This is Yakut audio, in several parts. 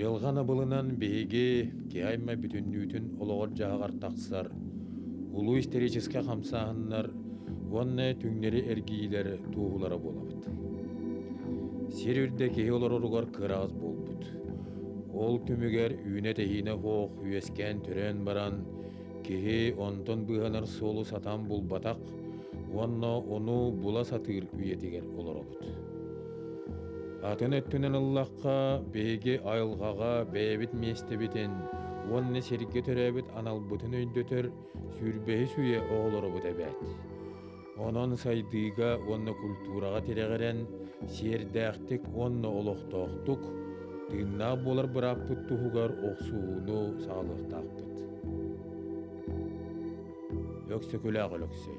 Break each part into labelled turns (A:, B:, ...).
A: Дьылҕан абылынан биһиги киайма бүтүннүүтүн олоҕор-дьаһаҕар тахсар улуу историческай хамсааһыннар уонна түҥнэри эргиилэр туоһулара буолабыт. Сир үрдэ киһи олороругар кыраҕас буолбут. Ол түмүгэр үүнэ-тэһиинэ суох үөскээн төрөөн баран, киһи онтон быыһанар суолу сатаан булбатах уонна ону була сатыыр үйэтигэр олоробут. Атын өттүнэн ыллахха, биһиги айылҕаҕа бэйэбит миэстэбитин уонна сиргэ төрөөбүт аналбытын өйдөтөр сүүрбэһис үйэ оҕолоробут эбээт. Онон сайдыыга уонна культураҕа тирэҕирэн сиэрдээхтик уонна олохтоохтук, тыыннаах буолар бырааппыт туһугар охсуһууну саҕалыахтаахпыт. Өксөкүлээх Өлөксөй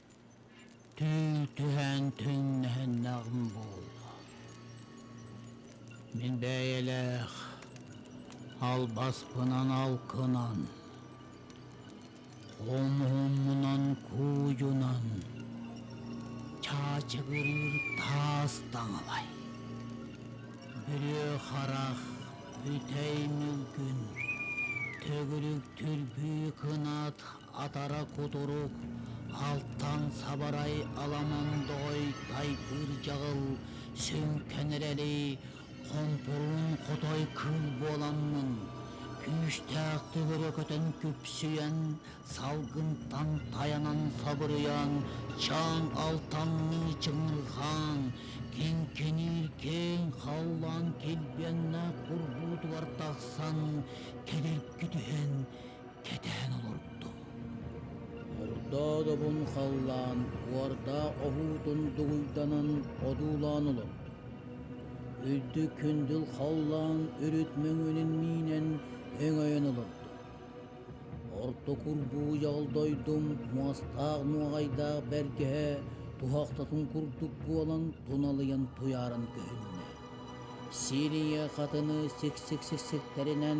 A: Түү түһээн түҥнэһиннэҕим буолла, мин бэйэлээх албаспынан алкынан, хомуһуммунан куудьунан чаачыгырыыр таас таҥалай, бүрүө харах, бүтэй мүлгүн, төгүрүк түрбүү кынат Атара кутурук, алтан сабарай аламан доҕой тайпыыр дьаҕыл сөҥкөн эрэри хонтуруун хотой кыыл буоламмын, күүстээх төгүрү көтөн күпсүйэн, салгынтан тайанан сабырыйан, чаан алтанныы чыҥырҕаан, киҥкиниир киэҥ халлаан килбиэннээх бурдуутугар тахсан, кэдиргитиһэн, кэтээн олордо. Ордоодобун халлаан уордаа оһуутун дугуйданан одуулаан олордо. Үрдүк күндүл халлаан үрүт мөҥүнүн миинэн өҥөйөн олордо. Орто курбуу дойдум муостаах муоҕайдаах бэргэһэ туһахтатын курдук буолан туналыйан туйааран көһүннэ. Сириye хатыны сиксик-сиксиктэринэн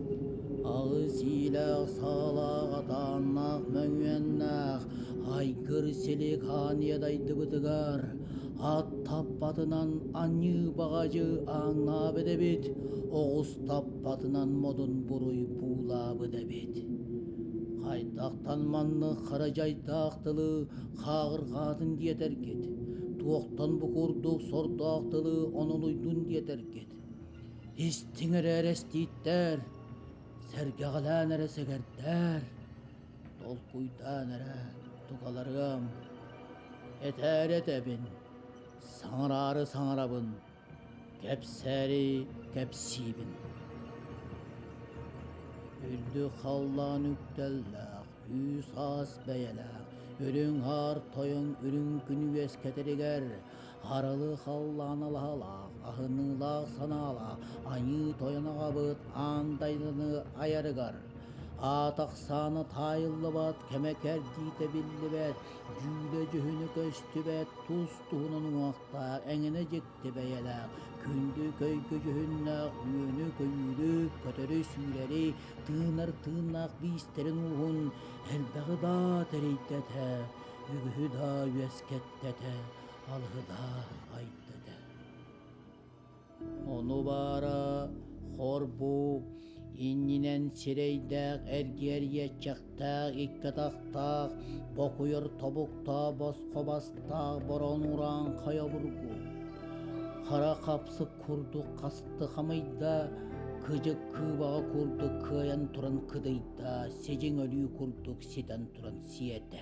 A: Аҕыс иилээх саалаах атааннаах мөҥүөннээх айгыр силикаан дайдыбытыгар ат таппатынан аньыы баҕадьы ааҥнаабыт эбит, оҕус таппатынан модун буруй буулаабыт эбит. Хайдахтан маннык хара дьайдаах тылы хааҕырҕаатын диэтэргит, туохтан бу курдук сордоох тылы онолуйдун диэтэргит? Истиҥ эрээри эстииттэр, сэргэҕэлээн эрэ сэгэрдэр, толкуйдаан эрэ тугаларыам. Этээри этэбин, саҥараары саҥарабын, кэпсээри кэпсиибин. Үрдүк халлаан үктэллээх, үс ас бэйэлээх, үрүҥ хаар тойон үрүҥ күн үөскэтэригэр Харалы халлааналаһалаах, аһыныылаах санаалаах Аньыы Тойон аҕабыт аан дайданы айарыгар аат ахсаана таайыллыбат, кэмэ кэрдиитэ биллибэт, дьүүлэ-дьүһүнэ көстүбэт, тус-туһунан уҥахтаах, эҥинэ дьикти бэйэлээх, күндү көйгө-дьүһүннээх үөнү-көйүүнү, көтөрү-сүүрэри, тыынар-тыыннаах биистэрин-ууһун элбэҕи даа тэрийдэтэ, үгүһү даа үөскэттэтэ. Алгынаа айдыда Ону баара хорбуу иннинэн сирэйдээх эргиэрийэччэхтээх икки атахтаах бокуйар тобуктаах босхо бастаах борон ураан хайобургу хара хапсы курдук хасты хамыйда кыдьык кыыбаҕа курдук кыайан туран кыдыйда сидьиҥ өлүү курдук ситэн туран сиэтэ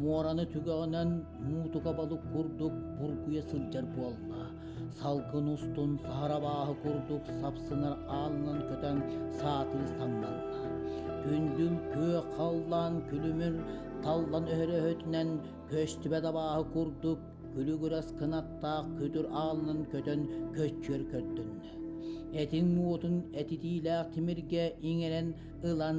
A: муораны түгэҕинэн муутука балык курдук бургуйа сылдьар буолла. Салгын устун саһарабааһы курдук сапсынар аалынан көтөн саатыы саҥнанна. Күндүм күө халлаан күлүмүр таллан өһөрөһөтүнэн көстүбэ дабааһы курдук күлүгүрэс кынаттаах күтүр аалынан көтөн көччүөр көрдүннэ. Этиҥ муотун этитиилээх тимиргэ иҥэрэн ылан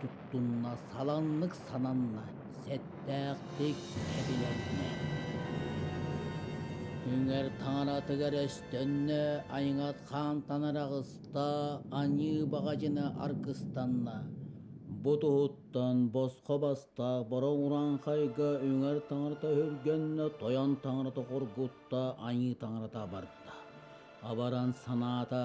A: туттунна саланнык сананна сэттээхтик кэбилэннэ үҥэр таҥаратыгар өстөннө айҥат хаантанар аҕыста аньыы баҕадьына аргыстанна бу туһуттан босхо баста бороҥ ураҥхайга үҥэр таҥарата өһүргэннэ тойон таҥарата хоргутта аньыы таҥарата абарда абаран санаата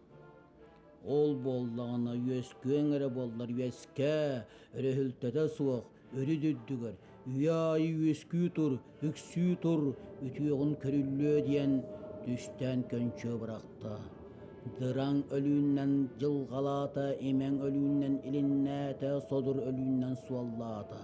A: Ол буоллаҕына үөскүөҥ эрэ буоллар үөскээ, өрөһүлтэтэ суох үрүт үрдүгэр үйэ аайы үөскүү тур, үксүү тур, үтүөҕүн көрүллүө диэн түстээн көнчө бырахта. Дыраҥ өлүүннэн дьылҕалаата, имэҥ өлүүннэн илиннээтэ, содур өлүүннэн суоллаата.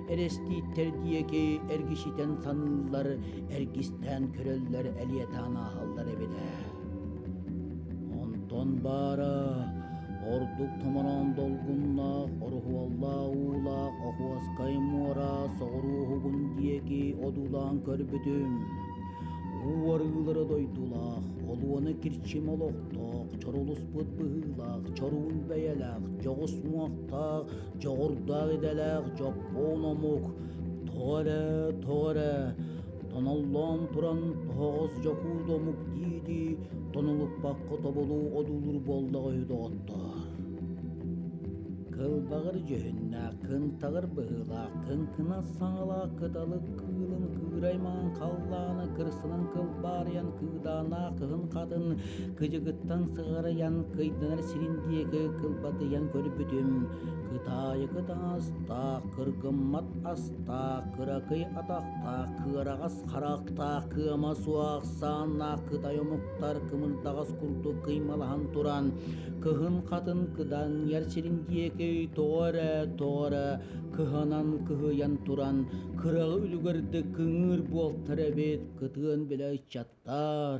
A: Эрэстииттэр диэки эргичитэн саныыллар, эргистээн көрөллөр, элиэтаан ааһаллар эбит ээ. Онтон баара ордук томороон долгуннаах, орухуоллаах уулаах Охуоскай муора соҕуруу уһугун диэки одуулаан көрбүтүм. Уу арыылара дойдулаах, олуона кирчим олохтоох, чорулуспут быһыылаах, чоруун бэйэлээх, дьоҕус уҥахтаах, дьоҕурдаах идэлээх дьоппуон омук тоҕо эрэ тоҕо эрэ тоноллоон туран тоһоҕос дьокуут омук дии-дии тонулуппакка тобулуу одуулуур буоллаҕа үһү доҕоттоор кылбаҕыр дьүһүннээх кынтаҕыр быһыылаах кыҥкынас саҥалаах кыталык кыылын кыыраймаан халлааны кырсанан кылбаарыйан кыыдааннаах кыһын хатын Кыдьыгыттан сыҕарыйан кыйданар сирин диэки кылбатыйан көрбүтүм, кытаайыгы таҥастаах, кыргыммат астаах, кыракый атахтаах, кыараҕас харахтаах, кыама суох сааннаах кытай омуктар кымырдаҕас курдук кыймалаһан туран, кыһын хатын кыдаҥыйар сирин диэки тоҕо эрэ, тоҕо эрэ кыһанан кыһыйан туран, кыраҕы үлүгэрдик кыҥыыр буолтар эбит, кытыан билэ ыччаттар.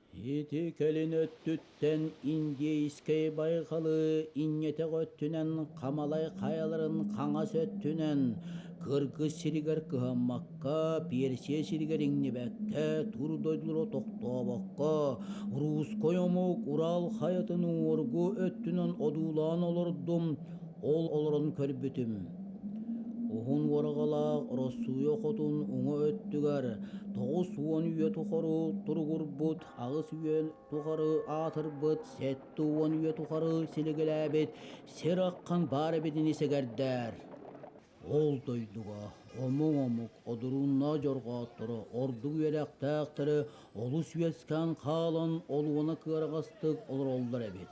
A: Ити кэлин өттүттэн индейскэй байҕалы инньэтэх өттүнэн хамалай хайаларын хаҥас өттүнэн кыргыс сиригэр кыһаммакка, Персия сиригэр иҥнибэккэ, тур дойдулара тохтообокко, русской омук Урал хайатын уҥуоргу өттүнэн одуулаан олордум, ол олорон көрбүтүм Уһун уораҕалаах Ороссууйа хотун уҥа өттүгэр тоҕус уон үйэ тухары туругурбут аҕыс үйэ тухары аатырбыт сэттэ уон үйэ тухары силигэлээбит сир ахан баар эбит ини сэгэрдэр ол дойдуга омук омук одуруннаах дьорҕоотторо ордук үөрэхтээхтэрэ олус үөскээн хаалан олуона кыараҕастык олороллор эбит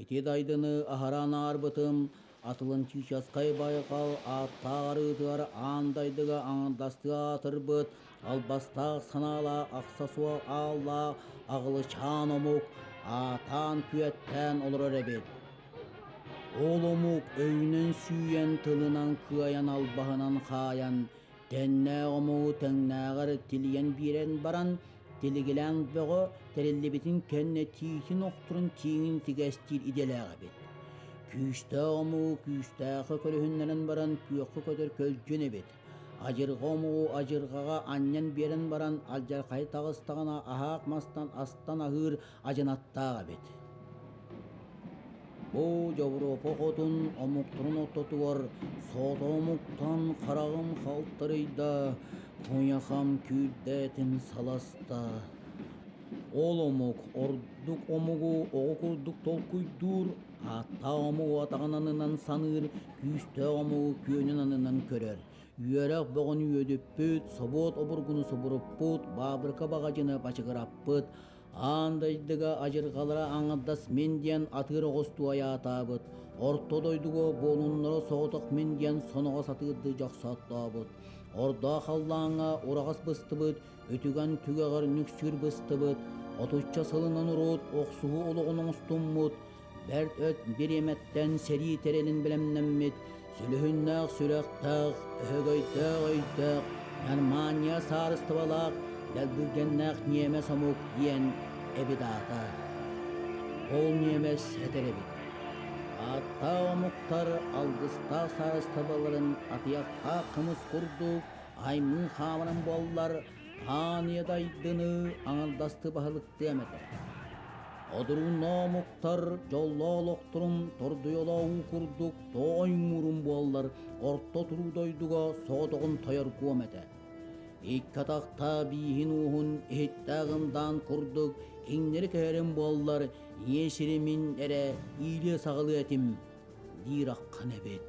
A: Ити дайдыны аһаран аарбытым, Атлантическай байҕал ааттаах арыытыгар аан дайдыга аҥардастыы аатырбыт албастаах санаалаах аксессуар ааллаах аҕылычаан омук аатаан-күөттээн олорор эбит. Ол омук өйүнэн сүүйэн, тылынан кыайан, албаһынан хаайан, тэннээх омугу тэҥнээҕэр тилийэн биэрэн баран, Тилигилээн бөҕө тэриллибитин кэннэ Тиитин охторун тииҥин тигэстиир идэлээх эбит. Күүстээх омугу күүстээххэ көрүһүннэрэн баран күөххэ көтөр көлдьүн эбит. Адьырҕа омугу адьырҕаҕа анньан биэрэн баран алдьархайы таҕыстаҕына аһаах мастан астан аһыыр Адьынаттаах эбит Бу Дьобуруопа хотун омуктарын ортотугар соto омуктан хараҕым халтарыйда, куйахам күүрдээтин саласта. Ол омук ордук омугу оҕо курдук толкуйдуур, ааттаах омугу атаҕын аннынан саныыр, күүстээх омугу күөнүн аннынан көрөр. Үөрэх бөҕөнү үөдүппүт, собуот обургуну субуруппут, баабырыка баҕадьыны бачыгыраппыт. Аан дойдуга адьырҕалара аҥардас мин диэн атыыр оҕустуу айаатаабыт, орто дойдуга буолуннара соҕотох мин диэн соноҕос атыырдыы дьохсооттообут, ордо халлааҥҥа ураҕас быстыбыт, үтүгэн түгэҕэр нүксүүр быстыбыт, отучча сылынан урут охсуһуу олоҕун оҥостуммут, бэрт өт бириэмэттэн сэрии тэрилин бэлэмнэммит сүлүһүннээх сүрэхтээх, өһөгөйдөөх өйдөөх, Нормания саарыстыбалаах дэлбиргэннээх ньиэмэс омук диэн эбит аата. Ол ньиэмэс этэр эбит: ааттаах омуктар алгыстаах саарыстыбаларын атыйахтаах кымыс курдук аймыы хаамарын буоллар, ааньа дайдыны аҥардастыы баһылыктыам этэ одурун оомуктар дьоллоох олохторун тордуйалооһуу курдук тооймуурум буоллар орто туруу дойдуга соҕотоҕун тойоргуом этэ икки атахтаах бииһин-ууһун иһиттээх ындаан курдук кинилэри көһөрүм буоллар ийэ сиримин эрэ иилиэ-саҕалыа этим диир ахан эбит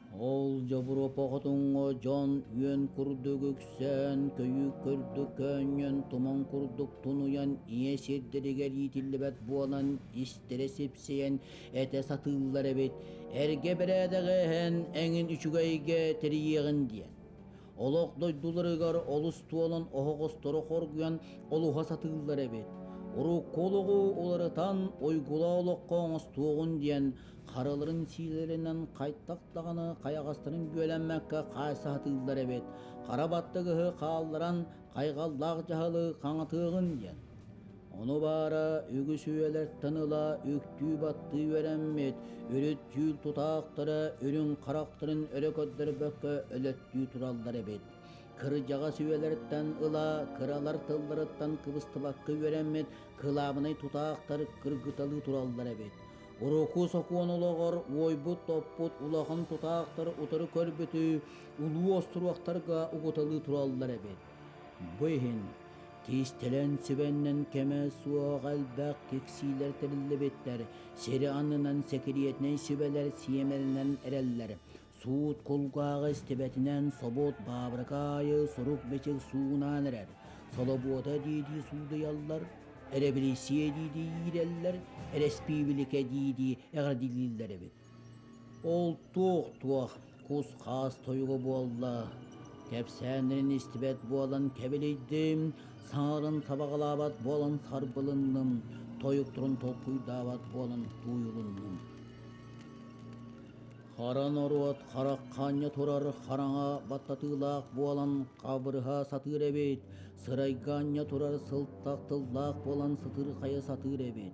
A: Ол дьобуруопа хотуҥҥа дьон үөн курдук үксээн, көйүүк курдук көөнньөн, туман курдук тунуйан, ийэ сирдэригэр иитиллибэт буолан, истэрэ сипсийэн этэ сатыыллар эбит. Эргэ бэрээдэгэ иһэн эҥин үчүгэйгэ тэрийиэҕин диэн. Олох дойдуларыгар олус туолан оһоҕостору хоргуйан олуһа сатыыллар эбит. Уруккулугу уларытан ойгула олоххо оҥостуоҕун диэн хараларын сиилэринэн хайтах даҕаны хайаҕастарын бүөлэммэккэ хаайса сатыыллар эбит. Хара баттыгыһы хаалларан хайҕаллаах дьаһалы хаҥатыаҕын диэн. Ону баара үгүс-үйэлэртэн ыла үктүү-баттыы үөрэммит, үрүттүүл тутаахтара үрүҥ харахтарын өрө көрдөрбөккө өлөттүү тураллар эбит. Кырдьаҕас үйэлэртэн ыла кыралар тылларыттан кыбыстыбакка үөрэммит кылаабынай тутаахтар кыргыталыы тураллар эбит. Урукку сокуон олоҕор уойбут-топпут улахан тутаахтар утары көрбүтүй улуу остуруохтарга угуталыы тураллар эбит. Бу иһин Кистэлэҥ сүбэннэн кэмэ суох элбэх киксиилэр тэриллибиттэр, сири аннынан сэкириэтинэй сүбэлэр сиэмэлэнэн эрэллэр. Суут кулгааҕы истибэтинэн собуот баабырыка аайы сурук-бичик суунан эрэр. Солобуота диэтии суудуйаллар, эрэбилиссийэ диэтии иирэллэр, эрэспиибиликэ диэтии эҕэрдэлииллэр эбит. Ол туох-туох, кус-хаас тойуга буолла? Кэпсээннэрин истибэт буолан кэбилийдим, саҥаларын сабаҕалаабат буолан сарбылынным, тойукторун толкуйдаабат буолан тууйулуннум. Хара норуот харах хаанньа турар хараҥа баттатыылаах буолан хабырыһа сатыыр эбит, сырайга анньа турар сылтах тыллаах буолан сытыырхайа сатыыр эбит.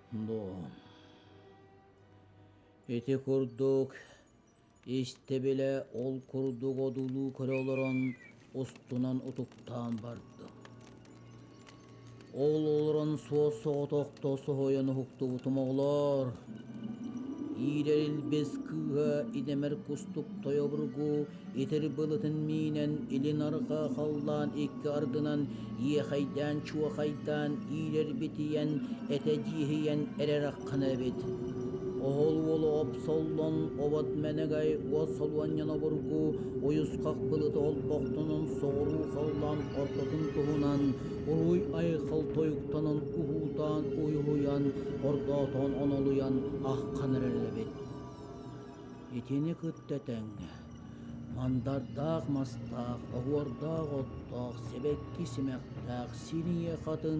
A: Но ити курдук истэ-билэ ол курдук одуулуу көрө олорон устунан утуктаан бардым. Ол олорон суос-соҕотохто соһуйан уһуктубутум оҕолоор, иирэр илбис кыыһа идэмэр кустук тойобургу итир былытын миинэн илин-арҕаа халлаан икки ардынан иэхэйдээн чуохайдаан иилэрбитийэн этэ-дьииһийэн эрэр-аххана эбит оһол уола опсоллон обот мэнэгэй уос солуонньан обургу уйусхах былыты олбохтунун соҕуруу халлаан ортотун туһунан уруй айхал тойуктанан уһуутаан уйуһуйан ордоотоон онолуйан аххан эрэр эбит Итини кытта тэҥэ мандардаах мастаах, оһуордаах оттоох, сибэкки симэхтээх, синие хатын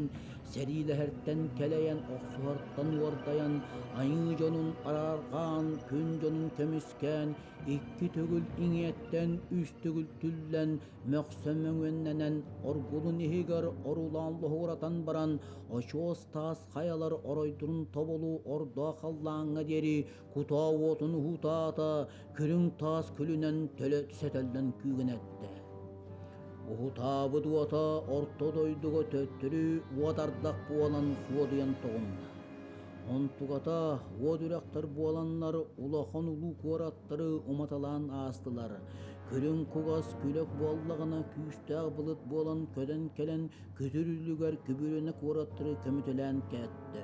A: сэриилэһэртэн кэлэйэн, охсуһартан уордайан, айыы дьонун араарҕаан, күн дьонун көмүскээн, икки төгүл иҥиэттэн үс төгүл түллэн, мөхсө мөҥүөннэнэн, оргулун иһигэр орулаан лоһугуратан баран, очуос таас хайалар оройдорун тобулуу ордо халлааҥҥа диэри кутаа уотун уһутаата көрүҥ таас күлүнэн төлө сэтэллэн күүгэнэттэ уһутаабыт уота орто дойдуга төттөрү уот ардах буолан суодуйан тоҕунна онтуката уот үрэхтэр буоланнар улахан улуу куораттары уматалаан аастылар көрүҥ кугас күлөк буоллаҕына күүстээх былыт буолан көтөн кэлэн күтүр үлүгэр күбүрүнэ куораттары көмүтэлээн кээттэ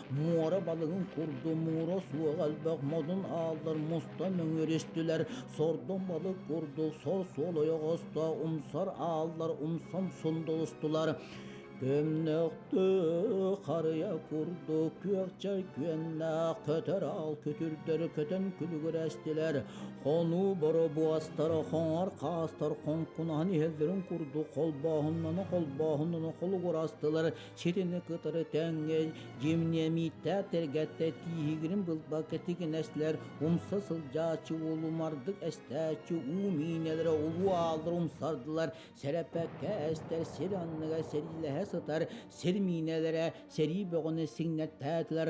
A: муора балыгын курдук муура суох элбэх модун ааллар мустан өҥүрүстүлэр сордоҥ балык курдук сор суол ойох оста умсар ааллар умсам сундулустулар көмнөхтү харыйа курдук күөхчэр күөннээх көтөр аал күтүрдөрү көтөн күлүгүрэстилэр хонуу боробуостара хоҥор хаастар хоҥкунаһын иһэллэрин курдук холбооһуннана холбооһуннана холугурастылар Сирини кытары тэҥҥин дьимниэмийтээ тэргэттэ тииһигирин былбакка тигинэслэр умса сылдьааччы улумардык эстээччи уу миинэлэрэ улуу ааллар умсардылар сэрэппэккэ эстэр сир анныга сэриилэһэ сытар сир миинэлэрэ сэрии бөҕөнү сиҥнэттээтилэр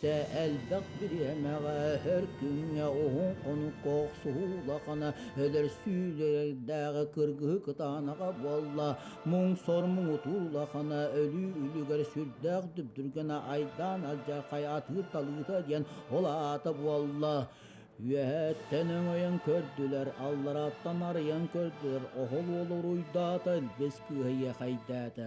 A: Сэ элбэх бириэмэҕэ өр күҥҥэ уһун хонукка охсуһуу улахана өлөр сүүрэрдээҕи кыргыһыы кытаанаҕа буолла. Муҥ сор муҥутуур улахана өлүү үлүгэр сүрдээх дүпдүргэнэ айдаан алдьархай атыыр талыыта диэн ол аата буолла. Үөһэттэн өҥөйөн көрдүлэр, алларааттан арыйан көрдүлэр, оһол уол уруйдаата, илбис кыыһа иэхэйдээтэ.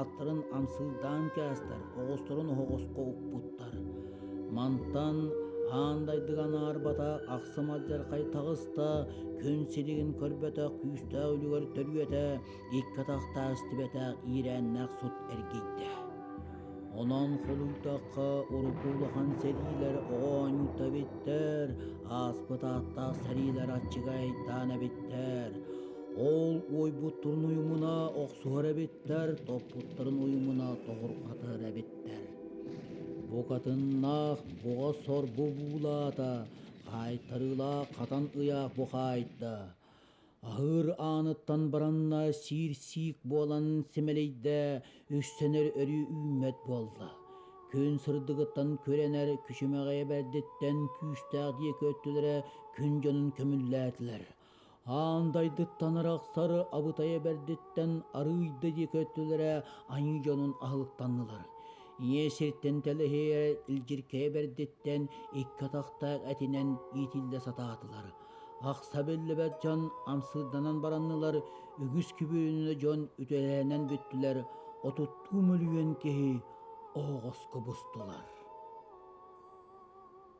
A: аттарын амсыырдаан кээстэр, оҕолосторун оһоҕоско укпуттар. Мантан аан дайдыга анаарбата ахсым алдьархай таҕыста, күн силигин көрбөтөх күүстээх үлүгэр төрүөтэ икки атахтаах истибэтэх иирээннээх сут эргийдэ. Онон холуйтахха урукку улахан сэриилэр оҕо оонньуута эбиттэр, ааспыт ааттаах сэриилэр аччыга айдаан эбиттэр. Ол уойбут турун уйумуна охсуһар эбиттэр, топпуттарын уйумуна тоҕурҕатар эбиттэр. Букатыннаах буҕа сор бубуулаата, хаайтарыылаах хатан ыйаах бухаайда. Аһыыр ааныттан баранна сиир-сиик буолан симэлийдэ, үссэнэр өрүү үүммэт буолла. Күн сырдыгыттан күрэнэр күчүмэҕэйэ бэрдиттэн күүстээх диэки өттүлэрэ күн дьонун көмүллээтилэр. аан дойдуттан арахсары абытай эбэрдиттэн арыый да диэки өттүлэрэ аньыы дьонун аһылыктаннылар ийэ сиртэн тэлэһийэрэ илдьиркэй эбэрдиттэн икки атахтаах этинэн иитиллэ сатаатылар ахса биллибэт дьон амсыырданан бараннылар үгүс күбүөнүнэ дьон үтүөлэһинэн бүттүлэр отуттуу мөлүйүөн киһи оһоҕоско бустулар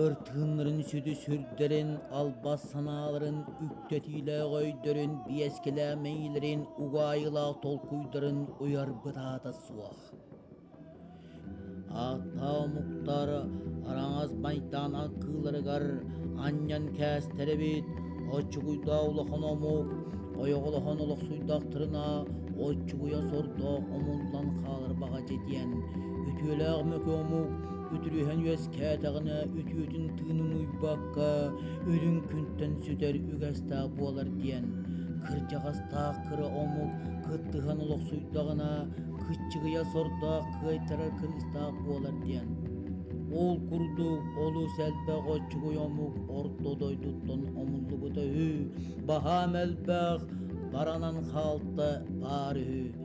A: Өр тыыннарын сүдү сүрдэрин, албас санааларын, үктэтиилээх өйдөрүн, биэскэлээмэйилэрин, угаайылаах толкуйдарын уйарбыт аата суох. Ааттаах омуктар араҥас майдаан аргыыларыгар анньан кээстэр эбит, оччугуйдаах улахан омук, ойоҕолоһон олохсуйдахтарына, оччугуйа сордоох омуллан хаалар баҕа дьэ диэн үтүөлээх мөкү омук үтүрүһэн үөскээтэҕинэ үтүөтүн тыынын уйбакка үрүҥ күнтэн сүтэр үгэстээх буолар диэн кырдьаҕастаах кыра омук кыттыһан олохсуйдаҕына кыччыгыйа сордоох кыайтарар кыыстаах буолар диэн ол курдук олус элбэх оччугуй омук орто дойдуттан омуллубута үһү баһаам элбэх баранан хаалта баар үһү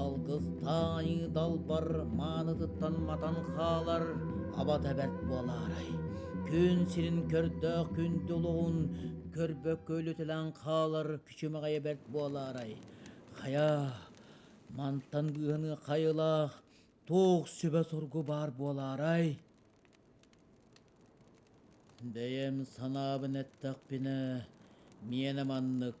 A: Алгыс таайыы далбар маанытыттан матан хаалар аба тэбэрт буолаарай күн сирин көрдөөх күндү улугун көрбөккө үлүтэлээн хаалар күчүмэҕэйэ бэрт буолаарай хайа мантан быыһаныы хайылаах туох сүбэ-соргу баар буолаарай бэйэм санаабын эттэхпинэ миэнэ маннык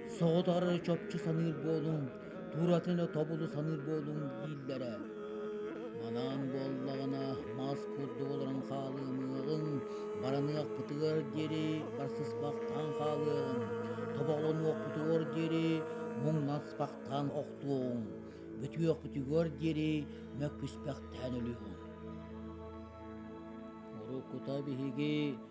A: соҕотоҕор чопчу саныыр буолуҥ тууратын тобулу саныыр буолуҥ дииллэрэ манаан буоллаҕына мас курдук олорон хаалыамыаҕыҥ бараныахпытыгар диэри барсыспахтаан хаалыаҥ тобоҕолонуохпутугар диэри муҥнаспахтаан охтуоҕуҥ бүтүөхпүтүгэр диэри мөккүспэхтээн өлүөҕүҥ уруккута биһиги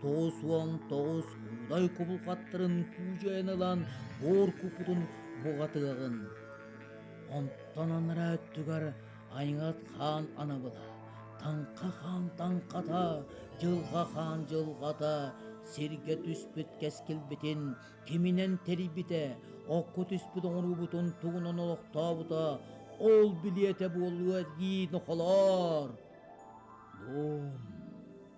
A: тоҕус уон тоҕус куудай кубулҕаттарын куудьайан ылан боор куппутун буҕатыаҕын онтон анараа өттүгэр айҥат хаан анабыла таҥха хаан таҥхата дьылҕа хаан дьылҕата сиргэ түспүт кэскилбитин киминэн тэрийбитэ окко түспүт оҥоруубутун тугунан олохтообута ол билиэтэ буолуо дии нохолоор дом